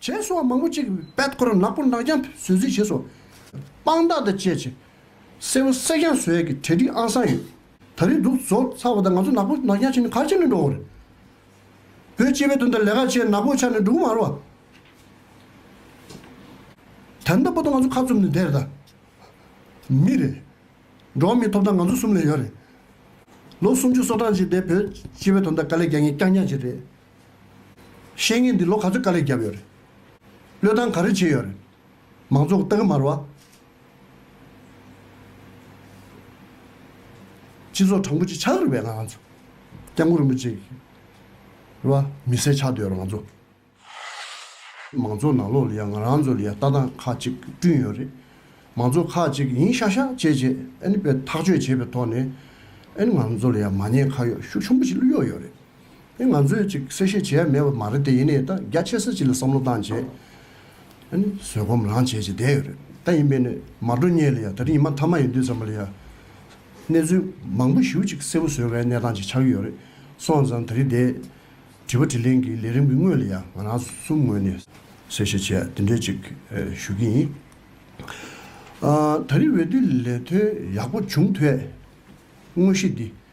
བྱེས་སོགས་མང་པོ་ཅིག་པད་ཁོ་ར་ནག་པོ་ནག་རྐྱང་བཟོས་རྩིས་བྱེས་སོ། དཔང་རྟགས་དང་བཅས་བྱེས་སེར་པོ་སེར་རྐྱང་བཟོས་ཀྱི་གྲལ་སྒྲིག་ཨང་སང་ཡོད། ད་རིང་འདུག་བཟོ་ཚར་བ་དང་ང་ཚོ་ནག་པོ་ནག་རྐྱང་བྱེས་ནི་ག་ཅིག་ནས་འགྲོ་འོང་རེད། བོད་སྤྱི་པའི་དོན་དུ་ལས་ཀ་བྱེས་ནག་པོ་ཆགས་ནས་འགྲོ་གི་མ་རོ། དལ་མདའ་པོ་དང་ང་ཚོ་ཁ་བཙུམ་ནས་བསྡད་རེད་ད། མི་རེད། འགྲོ་མི་ཐོབ་ཐང་ང་ཚོ་གསུམ་ལས་ཡོད་རེད། ལོ་སུམ་ཅུ་སོ་གྲངས་ཅིག་འདས་བོད་སྤྱི་པའི་དོན་དུ་དཀའ་ལས་རྒྱག་ངེས་རྐྱང་རྐྱང་ཅིག་རེད། བཤེས་གཉེན་འདི་ལོ་ག་ཚོད་དཀའ་ལས་བརྒྱབ་ཡོད་རེད། བློས་བཏང་ག་རེ་བྱས་ཡོད་རེད། མང་ཚོགས་སྟག་དམར་བ། སྤྱི་ཚོགས་དྲང་པོ་ཅིག་ཆགས་རིགས་པའི་ང་ཚོ། སྐྱབས་མགོན་རིན་པོ་ཆེ། བ། མི་བསད་ཆགས་སྡོད་རང་ཚོ། མང་ཚོགས་ནང་ལོགས་ལ་ཡང་ང་རང་ཚོ་ལ་ཡང་ལྟ་སྟངས་ཁག་ཅིག་བསྐྲུན་ཡོད་རེད། མང་ཚོགས་ཁག་ཅིག་ཡིན་ཤག་ཤག་བྱས་རྗེས་ཨ་ནི་པའི་ཐག་གཅོད་བྱས་པའི་ཐོག་ནས། ཨ་ནི་ང་རང་ཚོ་ལ་ཡང་མ་ཉེས་ཁ་གཡོག་ཤུགས་ཆུང་པོ་ཞིག་བླུ་གཡོག་ཡོད་རེད། ང་ཚོས་གཅིག་གསལ་བཤད་བྱས་ཡ་མེད་པ་མ་རེད་དེ་ཡིན་ནའི་ད་རྒྱ་ཆེ་ས་གཅིག་ལ་བསམ་བློ་བཏང་རྗེས་ཨ་ནི་བཟོད་སྒོམ་རང་བྱེད་ཅིག་བསྡད་ཡོད་རེད་ད་ཡིན་པས་ནི་མ་འགྲོ་སྙེག་ལ་ཡ་ད་རི་ཉི་མ་མཐའ་མ་ཡིན་དུས་ཙམ་པ་ལ་ཡ་གནས་ཚུལ་མང་པོ་ཞུ་ཅིག་གསལ་བོ་བཟོས་བའི་གནས་སྟངས་ཅིག་ཆགས་ཀྱི་ཡོད་རེད་སོང་ཙང་ད་རི་བསྡད། དྲི་བ་དྲི་ལན་གྱི་ལས་རིམ་གྱི་སྔོན་ལ་ཡ་ང་རང་གསུམ་ངོས་ནས་གསལ་བཤད་བྱས་ཡ་དེ་འདྲའི་ཅིག་ཞུ་གི་ཡིན། ད་རི་འོས་བསྡུ་ལས་དོན་ཡག་པོ་བྱུང་ཐོས་དངོས་གཞི་འདི་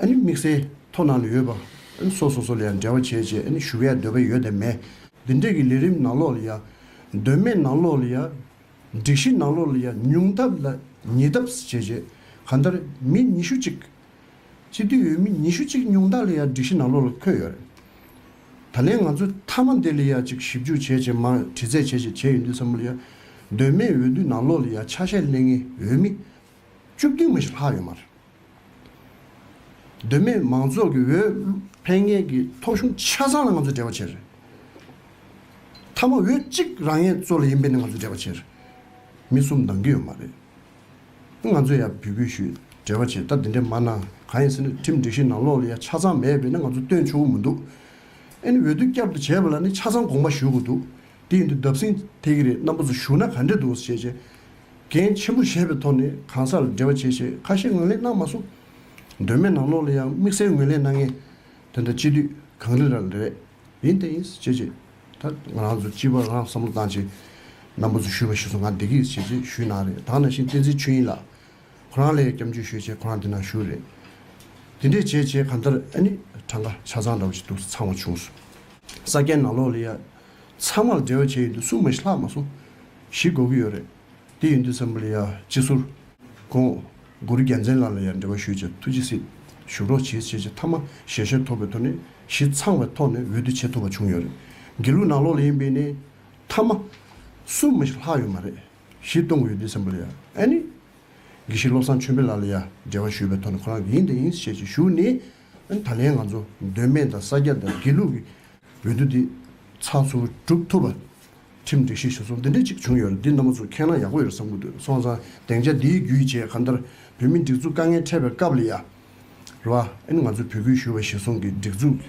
དམིགས་བསལ་མཐོ་སྣང་ལས་ཡོད་པ་སོགས་སོ་སོ་ལ་ཡང་འབྲེལ་བ་བྱེད་ཅེས་ཞུ་བའི་འདོད་པ་ཡོད་དམ་མེད། འདི་འདྲ་གི་ལས་རིམ་ནང་ལོགས་ལ་ཡང། འདོད་མེད་ནང་ལོགས་ལ་ཡང། སྒྲིག་གཞི་ནང་ལོགས་ལ་ཡང་ཉུང་ཐབས་ལ་ཉེ་ཐབས་བྱས་རྗེས་གང་ལྟར་མི་ཉི་ཤུ་གཅིག། སྤྱི་འཐུས་ཡོད་མི་ཉི་ཤུ་གཅིག་ཉུང་དག་ལ་ཡང་སྒྲིག་གཞི་ནང་ལོགས་ལ་འཁོད་ཡོད་རེད། ད་ལན་ང་ཚོས་མཐའ་མ་འདི་ལ་ཡང་ཅིག་ཞིབ་འཇུག་བྱས་རྗེས་མར་དྲི་རྩད་བྱས་ཞེས་བྱས་ཡོད་འདུག་བསམ་བློ་ཡང། འདོད་མེད་འོས་བསྡུ་ནང་ལོགས་ལ་ཡང་ཆ་ཤས་གླེང་ངེས་འོས་མི། བཅུ་བདུན་མ་ཞིག་ལྷག་ཡོད་མ་རེད། བདེན་མེད་མང་ཚོགས་ཀྱི་འོས་འཕེན་མཁན་གྱི་ཐོབ་གཞུང་ཆ་ཚང་ལ་ང་ཚོས་འབྲེལ་བ་བྱས་རེད། མཐའ་མ་འོས་གཅིག་རང་ཡན་གཙོ་ལ་ཡིན་པས་ནི་ང་ཚོས་འབྲེལ་བ་བྱས་རེད། མི་གསུམ་འདང་གི་ཡོད་མ་རེད། ང་ཚོས་ཡང་འབོད་སྐུལ་ཞུས་འབྲེལ་བ་བྱས་ད་དེ་འདྲས་མ་གནང་གང་ཡིན་ཟེར་ན་ཁྲིམས་སྒྲིག་གཞི་ནང་ལོགས་ལ་ཡང་ཆ་ཚང་མེད་པས་ན་ང་ཚོ་སྟོན་ཆོག་གི་མི་འདུག་ཨེ་ནི་འོས་བསྡུ་བསྐྱར་དུ་བྱས་པ་ལ་ནི་ཆ་ཚང་དགོངས་པ་ཞུ་དགོས་འདུག་དེ་ཡིན་དུས་བརྡབ་གསིག་ཐེག་གི་རེད་རྣམ་པ་ཚོ་ཞུ་ན་ག་འདྲས་འདུག་ཟེར་བྱས་རྗེས། འགན་ཆེན་པོ་བཞེས་པའི་ཐོག་ནས་གང་སར་འབྲེལ་བ་བྱས་ཞེས་ཁ་བཤད་ངོས་ལེན་གནང་མ་སོང། དོན་མེད་ནག་ནོག་ལ་ཡང་དམིགས་བསལ་ངོས་ལེན་གནང་མཁན་དེ་འདྲ་སྤྱི་འཐུས་གངས་རི་རལ་རེད། ཡིན་དེ་ཡིན་བྱས་རྗེས་ད་ང་རང་ཚོ་སྤྱི་བར་རང་བསམ་བློ་བཏང་རྗེས། རྣམ་པ་ཚོ་ཞུས་པ་ཞིག་སོང་ང་འདེགས་ཀྱི་བྱས་རྗེས་ཞུས་གནང་རེད་དྭགས་ནང་བཞིན་བསྟན་འཛིན་ཆོས་དབྱིངས་ལགས་ཁོ་རང་ལས་སྐྱབས་འཇུག་ཞུས་རྗེས་ཁོ་རང་འདི་ནང་ཞུས་རེད། དེ་འདྲས་བྱས་རྗེས་གང་ལྟར་ཨ་ནི་གྲངས་ཀ་ཆ་ཚང་འདྲ་བོ་ཞིག་འདུག་ཚང་བ་བྱུང་སོང། ས་སྐྱའི་ནག་ལོག་ལ་ཡ། ཚང་མར་འབྲེལ་བ་བྱས་ཡོད་འདུག་སུ་མ་ཤི་ལྷག་མ་སུ་ཞིག་གོ་གི་ཡོད་རེད། དེ་ཡིན་དུས་ས་མུ་ལི་ཡ་སྤྱི་ཟུར་ཁོང་གུ་རུ་རྒྱལ་མཚན་ལགས་ལ་ཡང་འབྲེལ་བ་ཞུས་རྗེས་ཐུགས་རྗེ་གཟིགས་བཞུགས་རོགས་བྱེད་ཅེས་ཆེས་མཐའ་མ་ཞལ་བཞེས་ཐོབ་པའི་ཐོག་ནས་གཞི་ཚང་བའི་ཐོག་ནས་འོས་བསྡུ་བྱེད་ཐུབ་པ་བྱུང་ཡོད་རེད། དགེ་ལུགས་ནང་ལོགས་ལ་ཡིན་པས་ནི་མཐའ་མ་སུ་མ་ཤི་ལྷག་ཡོད་མ་རེད། གཞི་སྟོང་གི་འོས་བསྡུས་ས་མུ་ལི་ཡ་ཨན་ནི། དགེ་བཤེས་བློ་བཟང་ཆོས་འཕེལ་ལགས་ལ་ཡང་འབྲེལ་བ་ཞུས་པའི་ཐོག་ནས་ཁོ་རང་གི་ཡིན་དེ་ཡིན་ཞེས་ཆེད་བཞུགས་ནས། ད་ལན་ང་ཚོ་འདོད་མེད་དང་ས་སྐྱ་དང་དགེ་ལུགས་ཀྱི་འོས་བསྡུ་འདི་ཚགས་ཚུད་བསྒྲུབ་ཐུབ་པ། ཁྲིམས་སྒྲིག་གཞི་ཞུ་ཚོགས་འདི་འདྲའི་གཅིག་བྱུང་ཡོད་རེད་འདི་རྣམ་པ་ཚོ་ཁས་བླངས་ཡག་པོ་ཡོད་བསམ་གྱི་འདུག་སོང་ཙང་སྡེང་ཆ་འདིའི་རྒྱུ་ཡི་རྗེས་གང་ལྟར་བོད་མི་སྒྲིག་འཛུགས་དཀའ་ངལ་འཕྲད་པའི་སྐབས་ལ་ཡ་རབས་ཨ་ཨེ་ནི་ང་ཚོ་བོད་གུས་ཞུ་བ་གཞི་བཟུང་གི་སྒྲིག་འཛུགས་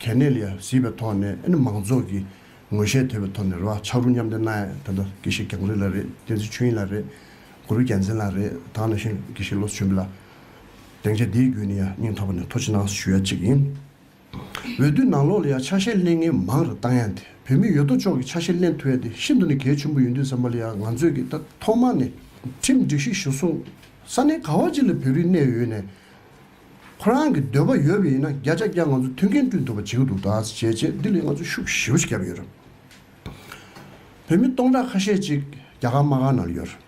གལ་གནད་ལ་ཡ་གཟིགས་པའི་ཐོག་ནས་ཨེ་ནི་མང་ཚོགས་ཀྱི་ངོས་ཤེས་དོད་པའི་ཐོག་ནས་ར་བ་ཆག་རུ་མཉམ་འདེགས་གནང་ཡ་ད་ལྟ་དགེ་བཤེས་གྱང་རི་ལ་རེད་བསྟན་འཛིན་ཆོས་དབྱིངས་ལ་རེད་གུ་རུ་རྒྱལ་མཚན་ལ་རེད་དང་ནང་བཞིན་དགེ་བཤེས་བློ་བཟོ་ཆོས་འཕེལ་ལ། སྡིངས་ཆ་འདིའི་རྒྱུན་ནི་ཡང་སྙིང་ཐོག་པ་ནས་མཐོ་ཆེ་ནང་ཞུ་ཡ་གཅིག་ཡིན། འོས་བསྡུའི་ནང་ལོགས་ལ་ཡང་ཆ་ཤས་གླེང་མཁན་མང་རུ་བཏང་ཡང་དེ་བོད་མི་ཡོད་དོ་ཅོག་གིས་ཆ་ཤས་གླེང་ཐུབ་ཡ་དེ་ཤིན་ཏུ་ནས་གལ་ཆེན་པོ་ཡོད་འདུག་ཟེར་མ་ལ་ཡང་ང་ཚོས་ཀྱིས་ད་ཐོག་མ་ནས་ཁྲིམས་སྒྲིག་ཞིག་ཞུ་གསུང། ས་གནས་ག་བ་ཅིག་ལ་བོད་རིགས་གནས་ཡོད་ནས། ཁོ་རང་གི་འདོད་པ་ཡོད་པ་ཡིན་ན་བརྒྱ་ཆ་བརྒྱ་ང་ཚོ་མཐུན་རྐྱེན་བསྐྲུན་ཐུབ་པ་བྱེད་ཀྱི་འདུག་ད་བྱས་རྗེས་འདི་ལས་ང་ཚོ་ཤུགས་ཞེ་བོ་ཞིག་བརྒྱབ་ཡོད་རབས། བོད་མི་སྟོང་ཕྲག་ཁ་ཤས་ཅིག་རྒྱ་གར་དམག་ཁང་ནང་ཡོད་རབས།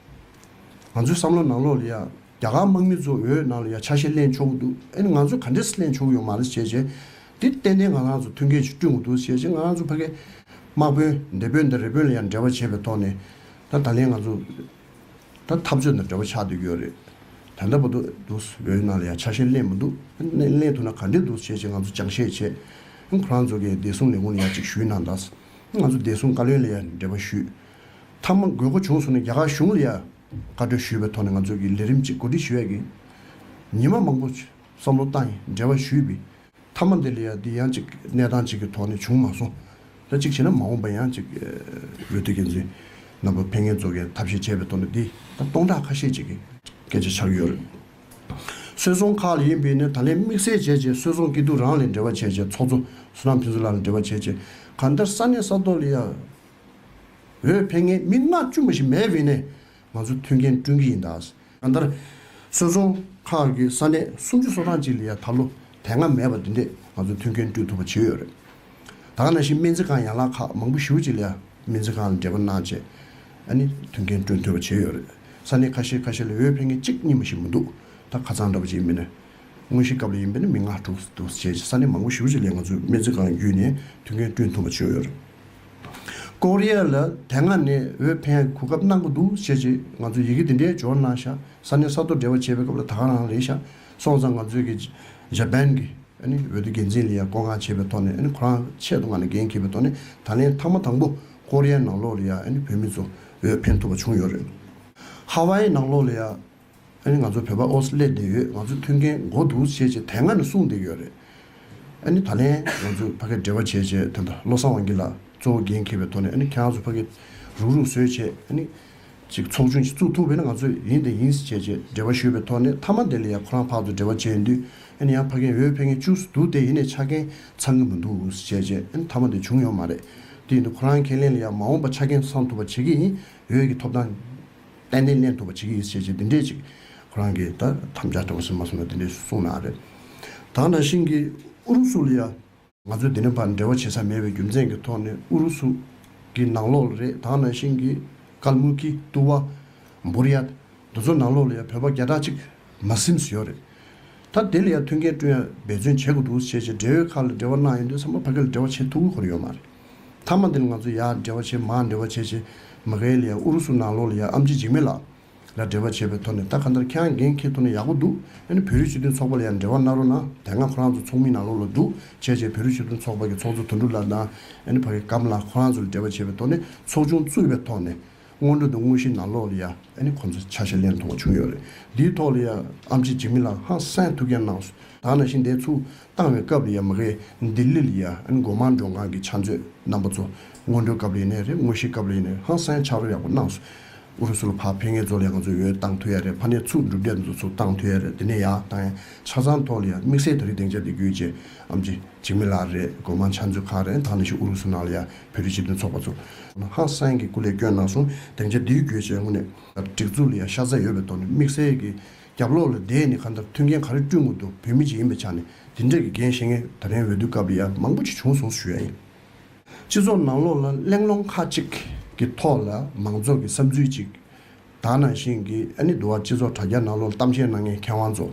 ང་ཚོའི་བསམ་བློ་ནང་ལོགས་ལ་ཡང་རྒྱ་གར་དམག་མི་ཚོ་འོས་ནང་ལ་ཡ་ཆ་ཤས་གླན་ཆོག་གི་འདུག་ཨེ་ན་ང་ཚོས་ག་འདྲས་སུ་གླན་ཆོག་གི་ཡོད་མ་རེད་ཅེས་བཤད། དེ་ཏན་ཏན་ང་རང་ཚོ་མཐུན་རྐྱེན་ཞིག་བསྐྲུན་དགོས་འདུག་ཅེས་བཤད་ང་རང་ཚོ་ཕ་གི། དམག་དཔོན། སྡེ་དཔོན་དང་རི་དཔོན་ལ་ཡང་འབྲེལ་བ་བྱས་པའི་ཐོག་ནས། ད་ད་ལན་ང་ཚོ། ད་འཐབ་རྩོད་དང་འབྲེལ་བ་ཆགས་འདོད་ཀྱི་ཡོད་རེད། ད་འདྲ་པོ་འདུག་འོས་ནང་ལ་ཡ་ཆ་ཤས་གླན་མི་འདུག་ཨེ་ན་གླན་ཐུབ་ན་ག་འདྲས་འདུག་ཅེས་བཤད་ང་ཚོ་ཅང་བཤད་བྱས། ཁོ་རང་ཚོ་གིས་བདེ་སྲུང་ལས་ཁུངས་ལ་ཡ་གཅིག་ཞུས་གནང་གདའ། ང་ཚོ་བདེ་སྲུང་བཀའ་བློན་ལ་ཡ་འབྲེལ་བ་ཞུས། མཐའ་མ་དགོས་མཁོ་བྱུང་སོང་ན་རྒྱ་གར་གཞུང་ལ་ཡ། བཀའ་གྲོས་ཞུས་པའི་ཐོག་ནས་ང་ཚོས་ཀྱི་ལས་རིམ་གཅིག་གོ་སྒྲིག་ཞུ་ཡས་ཀྱི། ཉིན་མ་མང་པོ་བསམ་བློ་བཏང་ཡས་འབྲེལ་བ་ཞུས་པའི། མཐའ་མ་འདི་ལ་ཡང་འདི་ཡང་ཅིག་གནས་སྟངས་གཅིག་གི་ཐོག་ནས་བྱུང་མ་སོང། ད་ཅིག་བྱས་ན་མ་འོངས་པ་ཡང་ཅིག་འོས་བསྡུ་འགན་འཛིན་རྣམ་པ་ཕན་ངན་རྫོགས་ཀྱི་ཐབས་ཤེས་བྱས་པའི་ཐོག་ནས་འདི་ད་སྟོང་ཕྲག་ཁ་ཤས་ཅིག་གི། སྐད་ཆ་ཆགས་ཀྱི་ཡོད་རེད། སོད་སོང་ཁག་ལ་ཡིན་པས་ནས་ད་ལན་དམིགས་བསལ་བྱས་བྱས་སོད་སོང་སྐྱིད་སྡུག་རང་ལས་འབྲེལ་བ་བྱས་བྱས་ཚོགས་གཙོ་སུ་རང་ཕན་ཚུ་ལ་ལ་འབྲེལ་བ་བྱས་བྱས་གང་ལྟར་ས་གནས་ས་ཐོག་ལ་ཡང། འོས་འཕེན་མཁན་མི་ལྔ་བཅུ་མ་ཞིག་མེད་བས་ནས་ང་ཚོ་མཐུན་རྐྱེན་བསྐྲུན་གྱི་ཡིན་ད། ད་ལྟར་སོལ་རྫོང་ཁག་གི་ས་གནས་སུམ་ཅུ་སོ་གྲངས་ཅིག་ལ་ཡང་ད་ལོ་དེ་སྔ་མེད་པར་དུས་འདས་ང་ཚོ་མཐུན་རྐྱེན་བསྐྲུན་ཐུབ་པ་བྱས་ཡོད་རེད། ད་ནང་བཞིན་སྨན་རྩིས་ཁང་ཡན་ལག་ཁག་མང་པོ་བཞི་བོ་ཅིག་ལ་ཡང་སྨན་རྩིས་ཁང་ལ་འབྲེལ་བ་གནང་རྗེས་ཨ་ནི་མཐུན་རྐྱེན་བསྐྲུན་ཐུབ་པ་བྱས་ཡོད་རེད། ས་གནས་ཁ་ཤས་ཁ་ཤས་ལ་འོས་འཕེན་མཁན་གཅིག་གཉིས་མ་ཞིག་མི་འདུག་ད་ཁ་ཚང་འདྲ་པོ་ཅིག་མིན་ནས། དངོས་གཞིའི་སྐབས་ལ་ཡིན་པས་ནི་མི་ལྔ་དྲུག་བཅས་ཀྱི་ས་གནས་མང་པོ་བཞི་བོ་ཅིག་ལས་ང་ཚོས་སྨན་རྩིས་ཁང་བརྒྱུད་ནས་མཐུན་རྐྱེན་བསྐྲུན་ཐུབ་པ་བྱས་ཡོད་རེད། ཀོ་རི་ཡ་ལ་དེ་སྔ་ནས་འོས་འཕེན་གོ་སྐབས་གནང་གི་འདུག་བྱས་རྗེས་ང་ཚོས་ཡི་གེ་འདི་འདྲའི་འབྱོར་གནང་ཤག་ས་གནས་ས་མཐོར་འབྲེལ་བ་བྱེད་པའི་སྐབས་ལ་དྭང་རང་རེད་ཤག་སོང་ཙང་ང་ཚོའི་གི་ཇཱ་པན་གི་འོས་བསྡུ་འགན་འཛིན་ལི་ཡ་ཀོ་ང་བྱེད་པའི་ཐོག་ནས་ཁོ་རང་ཆེད་དུ་ང་ནས་འགན་འཁྱེར་པའི་ཐོག་ནས་ད་ལན་ཐང་མ་དང་པོ་ཀོ་རི་ཡའི་ནང་ལོག་ལི་ཡ་བོད་མི་ཚོ་འོས་འཕེན་ཐུབ་པ་བྱུང་ཡོད་རེད། ཧ་ཝའི་ནང་ལོག་ལི་ཡ་ཨ་ནི་ང་ཚོ་བོད་པ་ཨོ་སི་ལེ་འདི་ཡོད་ང་ཚོ་མཐུན་རྐྱེན་མགོ་འདུག་བྱས་རྗེས་དེ་སྔ་ནས་གསུངས་བསྡད་ཡོད་རེད། ཨ་ནི་ད་ལན་ང་ཚོས་ཕ་གི་འབྲེལ་བ་བྱས་རྗེས་དེ་ད་བློ་བཟང་དབང་གིས་ལ་གཙོ་བོ་འགན་འཁྱེར་བའི་ཐོག་ནས་ཨ་ནི་ཁྱེད་རང་ཚོ་ཕ་གི་རུག་རུག་བཟོས་རྗེས་ཨ་ནི་ཅིག་ཚོགས་ཆུང་ཞིག་བཙུགས་ཐུབ་བས་ན་ང་ཚོས་ཡིན་དེ་ཡིན་ཟེར་བྱས་རྗེས་འབྲེལ་བ་ཞུས་པའི་ཐོག་ནས་མཐའ་མ་དེ་ལ་ཡང་ཁོ་རང་ཕག་ཏུ་འབྲེལ་བ་བྱས་འདུས་ཨ་ནི་ཡང་ཕ་གིས་འོས་འཕེན་མཁན་བཅུགས་སུ་འདུག་དེ་ཡིན་ནས་ཆ་རྐྱེན་ཚང་གི་མི་འདུག་ཟེར་བྱས་རྗེས་ཨ་ནི་མཐའ་མ་དེ་བྱུང་ཡོད་མ་རེད་དེ་ཡིན་དུས་ཁོ་རང་ཁས་ལེན་ལ་ཡང་མ་འོངས་པ་ཆ་རྐྱེན་ཚང་ཐུབ་པ་བྱེད་ཀྱི་ཡིན་འོས་ཀྱི་ཐོབ་ཐང། ཏན་ཏན་གནས་ཐུབ་པ་བྱེད་ཀྱི་ཡིན་ཟེར་ཞེས་འདི་འདྲས་ཅིག་ཁོ་རང་གིས་ད་དམ་བཅའ་དྲང་སྲིད་མ་སོང་ན་འདི་འདྲས་སུ་སོང་ནའང་རེད། ད་ནང་བཞིན་གྱི་ཨུ་རུ་སུ་ལ་ཡང། ང་ཚོས་འདི་ནས་བར་འབྲེལ་བ་བྱེད་ས་མེད་པའི་རྒྱུ་མཚན་གྱི་ཐོག་ནས་ཨུ་རུ་སུ་གྱི་ནང་ལོགས་ལ་རེད་ད་ནང་བཞིན་གྱི་ཀལ་མུ་ཀི། ཏུ་བ། འབུར་ཡ། འདི་ཚོ་ནང་ལོགས་ལ་ཡང་བོད་པ་བརྒྱ་ཕྲག་གཅིག་མ་སིམ་ཟི་ཡོད་རེད། ད་དེ་ལ་ཡང་མཐུན་རྐྱེན་བསྐྲུན་ཡ་འབད་བརྩོན་བྱེད་དགོས་འདུག་ཟེར་ཞེས་འབྲེལ་ཡོད་ཁག་ལ་འབྲེལ་བ་གནང་ཡོང་དུས་ཚང་མ་ཕ་གི་ལ་འབྲེལ་བ་བྱེད་ཐུབ་ཀྱི་ཁུར་ཡོད་མ་རེད། མཐའ་མ་འདི་ལ་ང་ཚོ་ཡར་འབྲེལ་བ་བྱེད་མར་འབྲེལ་བ་བྱེད་ཅེས་མི་གྷལ་ཡས་ཨུ་རུ་སུ་ནང་ལོགས་ལ་ཡང་ཨམ་ཆི་འཇིགས་མེད་ལགས་ལ་འབྲེལ་བ་བྱས་པའི་ཐོག་ནས་ད་ག་འདར་ཁྱེད་རང་འགན་འཁྱེར་ཐུབ་ན་ཡག་པོ་འདུག་ཨ་ནི་བོད་རིགས་སྤྱི་མཐུན་ཚོགས་པ་ལ་ཡང་འབྲེལ་བ་གནང་རོགས་གནང་དེ་སྔ་ཁོ་རང་ཚོ་ཚོགས་མི་ནང་ལོགས་ལ་འདུག་བྱས་བྱས་བོད་རིགས་སྤྱི་མཐུན་ཚོགས་པ་གི་ཚོགས་གཙོ་དོན་གྲུབ་ལགས་དང་ཨ་ནི་བྷ་གི་ཀམ་ལགས་ཁོ་རང་ཚོ་ལ་འབྲེལ་བ་བྱས་པའི་ཐོག་ནས་ཚོགས་ཆུང་བཙུགས་པའི་ཐོག་ནས། སྔོན་འགྲོ་དང་དངོས་གཞི་ནང་ལོགས་ལ་ཡ་ཨེ་ནི་ཁོང་ཚོ་ཆ་ཤས་ལེན་ཐོག་བྱུང་ཡོད་རེད་འདིའི་ཐོག་ལ་ཡ་ཨམ་གཅིག་འཇིགས་མི་ལ་ཧང་སངས་ཐུགས་རྒྱ་གནང་ད་ནང་བཞིན་དེ་ཚུགས་བཏང་བའི་སྐབས་ལ་ཡ་མི་ཁའི་ལྡི་ལི་ལ་ཡ་ཨེ་ནི་འགོ་མང་མགྲོན་ཁང་གི་ཕྱག་མཛོད་རྣམ་པ་ཚོ་སྔོན་འགྲོའི་སྐབས་ལ་ཡ་ནས་རེད་དངོས་གཞི་སྐབས་ལ་ཡ་ནས་ཧང་སངས་ཕྱག་རོགས་ཡག་པོ་གནང་སོང་ཨུ་རུ་སུ་ལ་ཕར་ཕེ་ངེད་ཚོ་ལ་ཡ་ང་ཚོ་འོས་བཏང་ཐུགས་ཡ་རེད་ཕ་ནས་ཚུགས་འགྲུབ་འབྲས་དེ་ཚོ་ཚུགས་བཏང་ཐུགས་ཡ་རེད་དེ་ནས་ཡ་ཨཏང་ཡ་ཆ་ཚང་ཐོག་ལ་ཡ་དམིགས་བསལ་ད་རིག་སྡེང་ཆ་དེ་དགོས་ཅེས་ཨམ་གཅིག་འཇིགས་མི་ལ་རེད་འགོ་མང་ཕྱག་མཛོད་ཁང་རེད་ད་ནང་བཞིན་ཨུ་རུ་སུ་ནང་ལ་ཡ་བོད་རིགས་སྤྱི་མཐུན་ཚོགས་པ་ཚོ། ཧང་སངས་ཀྱི་སྐུ་ལས་སྐྱོན་གནང་སོང་དེང་ཆ་འདིའི་རྒྱུད་བཅས་དངོས་གནས། སྒྲིག་འཛུགས་ལ་ཡང་ཤ་ཚ་ཡོད་པའི་ཐོག་ནས་དམིགས་བསལ་གྱི་རྒྱབ་ལོག་ལ་བསྡད་ནས་ག་འདྲ་མཐུན་རྐྱེན་ག་རེ་བསྐྲུན་དགོས་འདུག་བོད་མི་གཅིག་ཡིན་པའི་ཆ་ནས་འདི་འདྲ་གི་འགན་བཞེས་མཁན་ད་རིང་འོས་བསྡུ་སྐབས་ལ་ཡང་མང་པོ་ཅིག་བྱུང་སོང་ཞུ་ཡ་ཡིན། སྤྱི་ཚོགས་ནང་ལོག་ལ་གླེང་སློང་ཁག་ཅིག་གི་ཐོག་ལ་མང་ཚོགས་ཀྱི་བསམ་ཚུལ་ཅིག་དག་ནང་བཞིན་གྱི་ཨེ་ནི་འདུ་བ་སྤྱི་ཚོགས་དྲ་རྒྱ་ནང་ལོག་གཏམ་བཤད་གནང་མཁན་མཁས་དབང་ཚོ།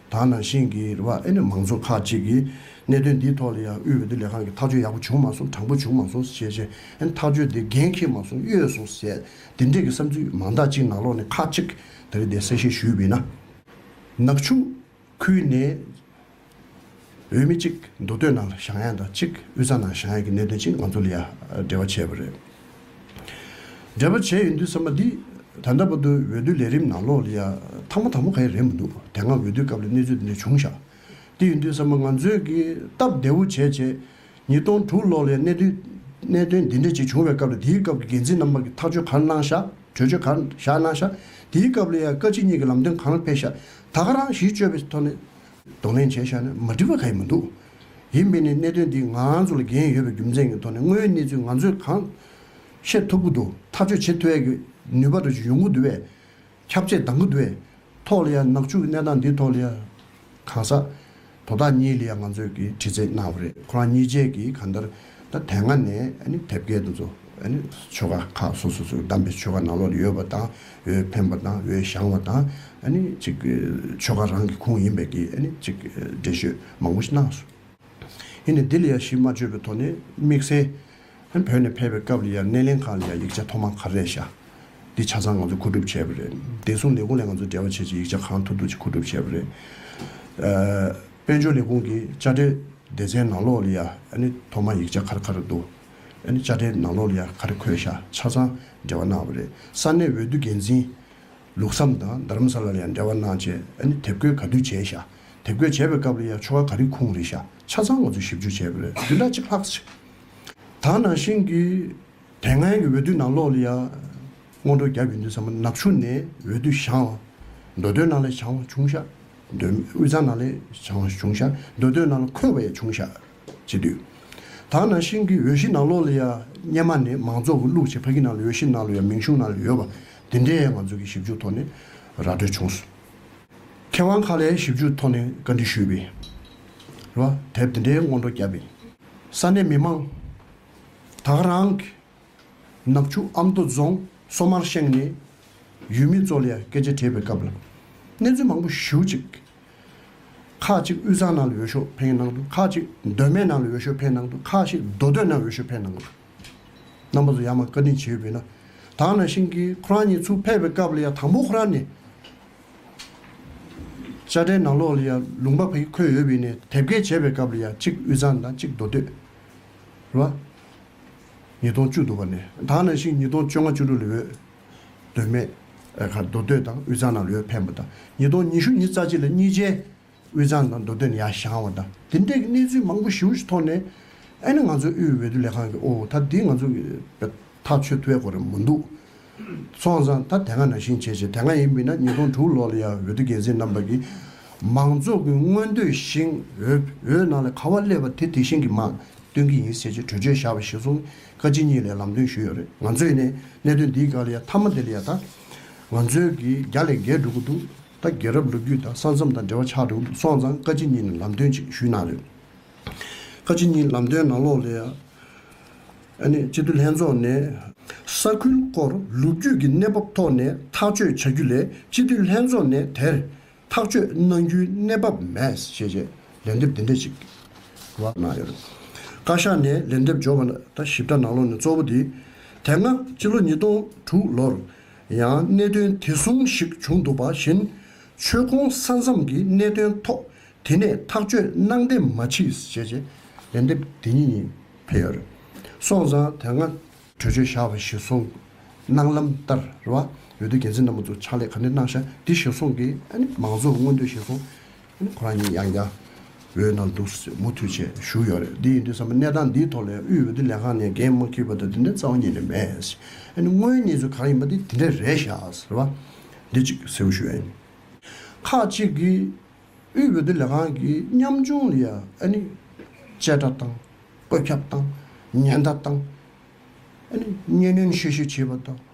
དག་ནང་བཞིན་གྱི་རེ་བ་ཨེ་ནི་མང་ཚོགས་ཁག་ཅིག་གིས་གནད་དོན་འདིའི་ཐོག་ལ་ཡང་དབུས་འོས་བསྡུ་ལས་ཁང་གིས་ཐག་གཅོད་ཡག་པོ་བྱུང་མ་སོང་དྲང་པོ་བྱུང་མ་སོང་ཞེས་བཤད་ཨེ་ནི་ཐག་གཅོད་དེ་འགན་འཁྱེར་མ་སོང་གཡོལ་སོང་ཟེར་དེ་འདྲས་ཀྱི་བསམ་ཚུལ་མང་དག་ཅིག་ནང་ལོག་ནས་ཁག་ཅིག་གིས་དེ་རེད་དེ་གསལ་བཤད་ཞུས་འི་ན། ནག་ཆུ། ཁུལ་ནས་འོས་མི་གཅིག་མདོ་སྟོད་ནང་ལ་ཞང་ཡ་དང་གཅིག་དབུས་གཙང་ནང་ཞང་ཡ་གི་གནད་དོན་གཅིག་ང་ཚོ་ལ་ཡ་འབྲེལ་བ་བྱས་པ་རེད། འབྲེལ་བ་བྱས་ཡོད་འདུག་བསམ་པ་འདི་ད་ལྟ་བར་དུ་འོས་བསྡུ་ལས་རིམ་ནང་ལོགས་ལ་ཡ་ཐང་མ་ཐང་མ་ག་ཡ་རེད་མི་འདུག་དེ་སྔ་འོས་བསྡུའི་སྐབས་ལ་གནས་ཚུལ་དེ་འདྲ་བྱུང་ཤག་དེ་ཡོད་འདུག་བསམ་པ་ང་ཚོས་ཀྱི་སྟབས་བདེ་བོ་བྱས་རྗེས་ཉིས་སྟོང་དྲུག་ལོགས་ལ་ཡ་གནད་དུས་གནད་དོན་འདི་འདྲ་གཅིག་བྱུང་བའི་སྐབས་ལ་དེའི་སྐབས་ཀྱི་འགན་འཛིན་རྣམ་པ་ཀྱི་ཐག་གཅོད་ག་རེ་གནང་ཤག་གྲོས་ཆོད་ག་རེ་བཞག་གནང་ཤག་དེའི་སྐབས་ལ་ཡ་བཀའ་སྤྱི་གཉིས་ཀྱི་ལམ་སྟོན་གང་ལ་ཕེབས་ཤག་ད་ག་རང་གཞིས་བཅོས་པའི་ཐོག་ནས་གདོང་ལེན་བྱས་ཤག་ནས་མ་འགྲིག་པ་ག་ཡི་མི་འདུག་ཡིན་མིན་ནི་གནད་དོན་འདི་ང་ཚོ་ལ་འགན་ཡོད་པའི་རྒྱུ་མཚན་གྱི་ཐོག་ནས་དངོས་གནས་ཚུལ་ང་ཚོས་གང་ཤེས་ཐུབ་ཀི་འདུག་ཐག་གཅོད་བྱེད་ཐུབ་ཡག་གི་ནུས་པ་དང་ཡོང་གི་འདུག་བས། ཁྱབ་ཆས་འདང་གི་འདུག་བས། ཐོག་ལ་ཡང་ནག་ཆུ་གི་གནས་སྟངས་འདིའི་ཐོག་ལ་ཡང་གང་ཟག། དོ་བདག་གཉིས་ལ་ཡང་ང་ཚོས་ཀྱིས་དྲི་རྩད་གནང་བ་རེད་ཁོ་རང་གཉིས་བཅས་ཀྱིས་གང་ལྟར་ད་དེ་སྔ་ནས་དེབ་སྐྱེལ་དུ་ཚོ་ཆོལ་ཁ་ཁག་སོ་སོ་སོ་བདམས་པའི་ཆོལ་ཁ་ནང་ལོག་ཡོད་པ་དང་འོས་འཕེན་པ་དང་འོས་བཞང་བ་དང་ཅིག་ཆོལ་ཁ་རང་གི་ཁུངས་ཡིན་པས་ཀྱིས་ཅིག་འགྲེལ་བཤོད་མང་པོ་ཞིག་གནང་སོང། ཡིན་ནས་འདི་ལ་ཡང་གཞི་མ་བཅོལ་བའི་ཐོག་ནས་དམིགས་བསལ། ཧན་བོད་ནས་ཕེབས་པའི་སྐབས་ལ་ཡར་སྣེ་ལེན་ཁང་ལ་ཡར་ཡིག་ཆ་ཐོག་མ་ག་རེ་ཤར། འདི་ཆ་ཚང་ང་ཚོས་མཁོ་སྒྲུབ་བྱས་པ་རེད། བདེ་སྲུང་ལས་ཁུངས་ལས་ང་ཚོས་འབྲེལ་བ་བྱེད་ཆེད་ཡིག་ཆ་གང་ཐུབ་ཐུབ་ཅིག་མཁོ་སྒྲུབ་བྱས་པ་རེད། དཔལ་འབྱོར་ལས་ཁུངས་ཀྱི་དཔྱ་ཁྲལ་སྡེ་ཚན་ནང་ལོགས་ལ་ཡར་ཐོག་མ་ཡིག་ཆ་ག་རེ་ག་རེ་འདུག་དཔྱ་ཁྲལ་ནང་ལོགས་ལ་ཡར་ག་རེ་འཁོད་ཤར་ཆ་ཚང་འབྲེལ་བ་གནང་བ་རེད། ས་གནས་འོས་བསྡུ་འགན་འཛིན་ལུགས་བསམ་དང་རྡ་རམ་ས་ལ་ལ་ཡར་འབྲེལ་བ་གནང་ཆེད་དེབ་བཀོད་ག་དུས་བྱས་ཤར། དེབ་བཀོད་བྱས་པའི་སྐབས་ལ་ཡར་ཆོ་ག་ག་རེ་ཁུངས་རེ་ཤར། ཆ་ཚང་ང་ཚོས་ཞིབ་འཇུག་བྱས་པ་རེད་དེ་འདྲ་ཅིག་ལྷག་བཅས། ད་ནང་བཞིན་གྱི་དེ་སྔའི་གྱི་འོས་བསྡུའི་ནང་ལོགས་ལ་ཡང་སྔོན་འགྲོ་བརྒྱབ་ཡོད་འདུག་ཟ་མ་ནག་ཆུ་ནས་འོས་བསྡུ་བྱང་ལ་འགྲོ་དོན་ནང་ལས་བྱང་ལ་བྱུང་ཤག་འདོད་མེད་དབུས་གཙང་ནང་ལས་བྱང་ལ་བྱུང་ཤག་འདོད་དོན་ནང་ལ་འཁོད་པ་ཡང་བྱུང་ཤག་བྱེད་དུས། ད་ནང་བཞིན་གྱི་འོས་གཞི་ནང་ལོགས་ལ་ཡང་སྙེ་མ་ནས་མང་ཚོགས་ཀྱི་བླུགས་བྱས་ཕ་གི་ནང་ལ་འོས་གཞི་ནང་ལ་ཡང་མིང་གཞུང་ནང་ལ་ཡོད་པ་དེ་འདྲས་ཡང་ང་ཚོས་གྱི་ཞིབ་འཇུག་ཐོག་ནས་ར་སྤྲོད་བྱུང་སོང། མཁས་དབང་ཁག་ལས་ཞིབ་འཇུག་ཐོག་ནས་བཀའ་འདྲི་ཞུས་པའི་རུ་དེབ་འདི་འདྲའི་སྔོན་འགྲོ་བརྒྱབ་པས། ས་གནས་མི་མང་དག་རང་གི་ནག་ཆུ་ཨ་མདོ་རྫོང་སོ་མར་ཤང་ནས་ཡུལ་མི་ཚོ་ལ་སྐད་ཆ་དྲིས་པའི་སྐབས་ལ་གནས་ཚུལ་མང་པོ་ཞུ་གཅིག། ཁག་གཅིག་དབུས་གཙང་ནང་ལ་འོས་ཤོག་འཕེན་གནང་འདུག་ཁག་གཅིག་མདོ་སྨད་ནང་ལ་འོས་ཤོག་འཕེན་གནང་འདུག་ཁག་ཤིག་མདོ་སྟོད་ནང་འོས་ཤོག་འཕེན་གནང་འདུག་རྣམ་པ་ཚོ་ཡང་མང་བཀའ་དྲིན་ཆེ་ཡོད་པས་ན། དག་ན་ཤིང་གིས་ཁོ་རང་ཉིད་ཚུར་ཕེབས་པའི་སྐབས་ལ་ཡང་དང་པོ་ཁོ་རང་ནས་དཔྱ་ཁྲལ་ནང་ལོགས་ལ་ཡང་ལུང་པ་ཕུལ་འཁོད་ཡོད་པས་ནས་དེབ་སྐྱེལ་བྱས་པའི་སྐབས་ལ་ཡང་གཅིག་དབུས་གཙང་དང་གཅིག་མདོ་སྟོད། རུ་བ། ཉིས་སྟོང་བཅུ་དུ་བ་ནས་དང་ནང་བཞིན་ཉིས་སྟོང་བཅོ་ལྔ་བཅུ་དྲུག་ལ་འོས་འདོད་མེད། ཁར་མདོ་སྟོད་དང་དབུས་གཙང་ནང་ལ་འོས་འཕེན་པ་དང་ཉིས་སྟོང་ཉི་ཤུ་ཉིས་རྩ་གཅིག་ལ་གཉིས་ཆའི། དབུས་གཙང་དང་མདོ་སྟོད་ཡ་ཞང་བ་དང་དེ་འདྲའི་གནས་ཚུལ་མང་པོ་ཞུ་ཐོག་ནས་ཨེ་ན་ང་ཚོའི་དབུས་འོས་བསྡུ་ལས་ཁང་གི་ཨོ་ད་དེ་ང་ཚོ་གི་ཐག་ཆོད་ཐུ་བའི་གོ་རེ་མོ་འདུག་སོང་ཙང་ད་དེ་སྔ་ན་བཞིན་བྱས་བྱས་དེ་སྔ་ཡིན་མིན་ན་ཉིས་སྟོང་དྲུག་ལོ་ལ་ཡ་འོས་བསྡུ་འགན་འཛིན་རྣམ་པ་གི་མང་ཚོགས་ཀི་མངོན་འདོད་བཞིན་འོས་འོས་ནང་ལ་ག་བ་སླེབས་པ་དེ་དེ་བཞིན་གི་མང་སྟོན་གི་ཡིན་ཟེར་ཅེས་གྲོས་ཆོད་བཞག་པ་ཞིག་སོང་ཀ་ཅི་གཉིས་ལས་ལམ་སྟོན་ཞུས་ཡོད་རེད་ང་ཚོས་ནས་གནད་དོན་འདིའི་སྐར་ལ་ཡ་མཐའ་མ་དེ་ལ་ཡ་ད་ང་ཚོའི་གི་རྒྱ་ལས་འགལ་འགྲོ་གི་འདུག། ད་རྒྱལ་རབས་ལོ་རྒྱུས་དང་ས་མཚམས་དང་འབྲེལ་བ་ཆགས་འདུག་སོང་ཙང་བཀའ་སྤྱི་གཉིས་ནས་ལམ་སྟོན་ཅིག་ཞུས་གནང་རེད། བཀའ་སྤྱི་གཉིས་ལམ་སྟོན་ནང་ལོགས་ལས། ཨ་ནི་སྤྱི་འཐུས་ལྷན་ཚོགས་ནས། ས་ཁུལ་སྐོར་ལོ་རྒྱུས་ཀྱི་གནས་བབ་ཐོག་ནས་ཐག་གཅོད་བྱ་རྒྱུ་ལས་སྤྱི་འཐུས་ལྷན་ཚོགས་ནས་དེར་ཐག་གཅོད་གནང་རྒྱུའི་གནས་བབ་མེད་ཞེས་རྗེས་ལན་འདེབས་འདི་འདྲ་ཅིག་གནང་ཡོད། བཀའ་ཤག་ནས་ལན་འདེབས་འབྱོར་བ་ད་ཞིབ་ཕྲ་ནང་ལོགས་ནས་གཙོ་བོ་དེ། དེ་སྔ་སྤྱི་ལོ་ཉིས་སྟོང་དྲུག་ལོར། ཡང་གནད་དོན་དེ་ཟུང་ཞིག་བྱུང་འདུག་པ་བཞིན་ཆོལ་ཁོང་ས་མཚམས་ཀྱི་གནད་དོན་ཐོག་དེ་ནས་ཐག་གཅོད་གནང་བདེ་མ་མཆིས་ཞེས་རྗེ་ལན་འདེབས་དེ་ཉིད་ཡིན་ཕེར། སོང་ཙང་དེ་སྔ། གྲོས་ཆོད་བཞག་པ་གཞིར་བཟུང་གནང་ལམ་ལྟར་ར་བ་འོས་བསྡུ་འགན་འཛིན་རྣམ་པ་ཚོ་ཕྱག་ལས་ག་ནས་གནང་བྱ་འདི་གཞིར་བཟུང་གིས་མང་གཙོ་མངོན་འདོད་གཞིར་བཟུང་ཁོ་རང་ཉིད་ཡང་རྒྱ་བོད་ནང་འདུག་སའི་མུ་མཐུད་ཆེད་ཞུགས་ཡོད་རེད་འདི་ཡིན་དུས་བསམ་པ་གནས་སྟངས་འདིའི་ཐོག་ལས་དབུས་འོས་བསྡུ་ལས་ཁང་ནས་འགན་མ་ཁུར་བ་དང་དེ་འདྲའི་རྩ་བ་ཉིད་ནས་མེད། དངོས་གནས་ཚུལ་གང་ཡིན་པ་དེ་དེ་འདྲས་རེད་ཤག་ཟེར་བ། འདི་གཅིག་གསལ་བོ་ཞུ་ཨེ། ཁག་གཅིག་གིས་དབུས་འོས་བསྡུ་ལས་ཁང་གིས་ཉམ་ཆུང་ལ་ཡང་ཨ་ནི། གཅེས་སྤྲ་དང། བཀོད་ཁྱབ་དང། ཉེན་བརྡ་དང། ཨ་ནི། གཉེན་སྣོན་ཤེས་ཤེས་བྱེད་པ་དང།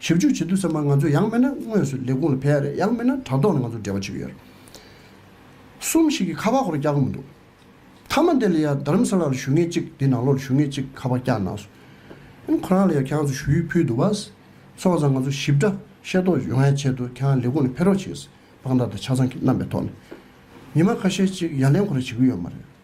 ཞིབ་འཇུག་བྱེད་དུས་ཚང་མ་ང་ཚོས་ཡང་མིན་ན་དངོས་སུ་ལས་ཁུངས་ལ་ཕེབས་ཡ་རེད་ཡང་མིན་ན་དྲ་ཐོག་ནས་ང་ཚོར་འབྲེལ་བ་བྱེད་ཀྱི་ཡོད་རེད། གསུམ་ཞིག་གིས་ཁ་པར་ཁོ་ར་བསྐྱར་གི་མི་འདུག་མཐའ་མ་འདི་ལ་ཡང་རྡ་རམ་ས་ལ་ལ་ཞུ་ངེས་གཅིག་འདི་ནང་ལོགས་ལ་ཞུ་ངེས་གཅིག་ཁ་པར་བསྐྱར་གནང་སོང། ཡང་ཁོ་རང་ལ་ཡང་ཁྱེད་རང་ཚོས་ཞུ་ཡིག་ཕུལ་འདུག་བ། སོང་ཙང་ང་ཚོ་ཞིབ་ཕྲ་ཤེས་རྟོགས་ཡོང་ཡའི་ཆེད་དུ་ཁྱེད་རང་ལས་ཁུངས་ལ་ཕེབས་རོགས་བྱེད། དཔང་རྟགས་དང་ཆ་ཚང་གི་རྣམ་པའི་ཐོག་ནས། ཉི་མ་ཁ་ཤས་གཅིག་ཡ་ལན་ཁོ་ར་བྱེད་ཀྱི་ཡོད་མ་རེད།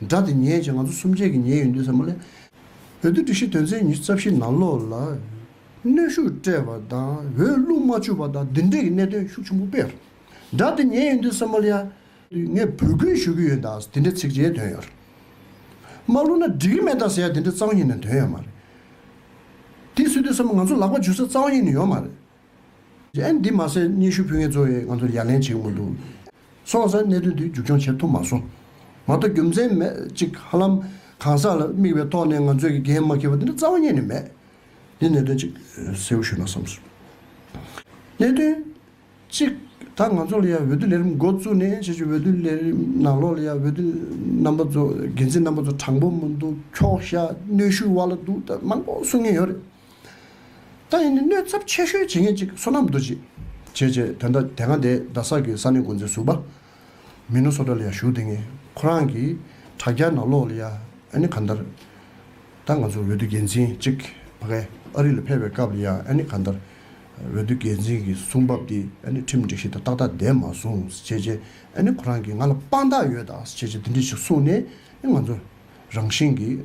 སྒྲ་དེ་ཉན་ཅིང་ང་ཚོ་གསུམ་ཆས་ཀྱིས་ཉན་ཡོད་འདུག་ས་མོ་ལས། བོད་དུ་སྒྲིག་གཞི་དོན་ཚན་ཉི་ཤུ་རྩ་བཞི་ནང་ལོགས་ལ་གནོན་ཤུགས་སྤྲད་པ་དང་འོས་བླུགས་མ་བཅུག་པ་དང་འདི་འདྲའི་གི་གནད་དོན་ཤུགས་ཆུང་པོ་སྤེལ། སྒྲ་དེ་ཉན་ཡོད་འདུག་ས་མོ་ལས། ངས་བོད་ཁུལ་ཞུ་གི་ཡོད་ད་ཟེར་དེ་འདྲའི་ཚིག་བརྗེའི་དོན་ཡོད་རེད། མ་བླུགས་ན་འགྲིག་གི་མེད་ད་ཟེར་ཡ་དེ་འདྲའི་གཙང་ཡིན་ན་དོན་ཡོད་མ་རེད། དེ་སུས་འདོད་ས་མོ་ང་ཚོ་ལག་པ་འཇུ་ས་གཙང་ཡིན་ནི་ཡོད་མ་རེད། ཨེ་འདི་མ་ཟེར་སྙན་ཞུ་ཕུལ་མཁན་གཙོ་བོས་ང་ཚོར་ཡ་ལན་བྱེད་གི་མི་འདུག། སོང་ཟེར་གནད་དོན་དེ་མཇུག་སྐྱོང་བྱེད་ཐུབ་མ་སོང། མ་གཏོགས་རྒྱུ་མཚན་མེད་ཅིག་ཧ་ལམ་གང་ཟག་ལ་དམིགས་པའི་ཐོག་ནས་ང་ཚོས་ཀྱི་འགན་མ་འཁྱེར་བ་འདི་འདྲ་རྩ་བ་ཉིད་ནས་མེད། འདི་གནད་དོན་གཅིག་གསལ་བོ་ཞུས་ན་བསམ་སོང། གནད་དོན་གཅིག་ད་ང་ཚོ་ལ་ཡང་འོས་བསྡུ་ལས་རིམ་འགོ་བཙུགས་ནས་ཕྱི་ཕྱོགས་འོས་བསྡུ་ལས་རིམ་ནང་ལོགས་ལ་ཡང་འོས་བསྡུ་རྣམ་པ་ཚོ་འགན་འཛིན་རྣམ་པ་ཚོ་དྲང་པོ་མི་འདུག་འཁྱོག་བཤད་གནོད་ཤུགས་དབར་ལ་འདུག་སྟབས་མང་པོ་གསུང་ངེས་ཡོད་རེད། ད་ཡིན་ནི་གནོད་ཚབས་ཆེ་ཤོས་བྱེད་མཁན་གཅིག་བསོད་ནམས་རྡོ་རྗེ། བྱས་བྱས་དོན་དག་དེ་སྔ་དེ་རྡ་ས་གི་ས་གནས་འགོ་འཛིན་ཟུར་པ། མི་ནུ་སོ་ཏྲ་ལ་ཡང་ཞུགས་དེ་ངས་ཁོ་རང་གི་དྲ་རྒྱ་ནང་ལོག་ལ་ཡ་ཨ་ནི་གང་ལྟར། ད་ང་ཚོ་འོས་བསྡུ་འགན་འཛིན་གཅིག་ཕ་གས་ཨ་རི་ལ་ཕེབས་པའི་སྐབས་ལ་ཡ་ཨ་ནི་གང་ལྟར། འོས་བསྡུ་འགན་འཛིན་གྱི་གསུང་བབ་དེ་ཨ་ནི་ཁྲིམས་སྒྲིག་གཞི་དང་ཏག་ཏག་ལྡན་མ་སོང་བྱས་བྱས་ཨ་ནི་ཁོ་རང་གིས་ང་ལ་དཔང་རྟགས་ཡོད་ད་བྱས་བྱས་དེ་འདྲས་ཞིག་གསུངས་ནས་ནི་ང་ཚོ་རང་བཞིན་གྱིས།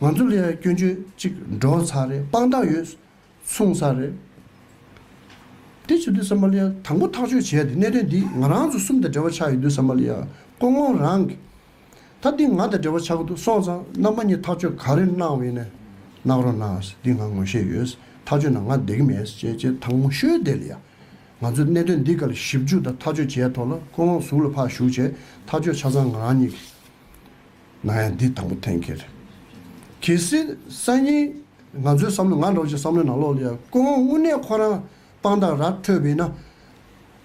ང་ཚོ་ལྷས་ར་སྐྱོན་བརྗོད་ཅིག་འགྲོ་ཚར་རེད་དཔང་རྟགས་ཡོད་གསུངས་ཚར་རེད། དེ་བྱེད་དུས་སམ་མ་ལི་ཡ་དང་པོ་ཐག་གཅོད་བྱས་ཏེ་གནད་དོན་འདི་ང་རང་ཚོ་གསུམ་དང་འབྲེལ་བ་ཆགས་ཡོད་དུས་སམ་མ་ལི་ཡ་ཀོང་ཀོང་རང་གིས་ད་འདི་ང་དང་འབྲེལ་བ་ཆགས་གི་འདུག་སོང་ཙང་རྣམ་པ་གཉིས་ཐག་གཅོད་ག་རེ་གནང་བ་ཡིན་ནས་གནང་རོགས་གནང་འདི་ང་ངོ་ཤེས་ཡོད་ཐག་གཅོད་ན་ང་བསྡད་ཀྱི་མེད་ཅེས་ཅེས་ཐང་མོ་ཤོའི་བསྡད་ལ་ཡ། ང་ཚོས་གནད་དོན་འདི་ག་ལ་ཞིབ་འཇུག་དང་ཐག་གཅོད་བྱས་ཐོག་ལ་ཀོང་ཀོང་གཟུགས་ལ་ཕར་བཞུགས་བྱས་ཐག་གཅོད་ཆ་ཚང་ང་རང་གཉིས་ཀྱིས། ང་ཡང་འདི་དང་པོ་ཐེངས་ཁེར་གྱི་སྲིད་གསར་གཉིས་ང་ཚོའི་བསམ་བློ་ང་འགྲོ་བཞིན་བསམ་བློའི་ནང་ལོག་ལ་ཡ་ཀུན་དབང་དངོས་གནས་ཁོ་རང་དཔང་རྟགས་ར་འཕྲོད་པས་ན།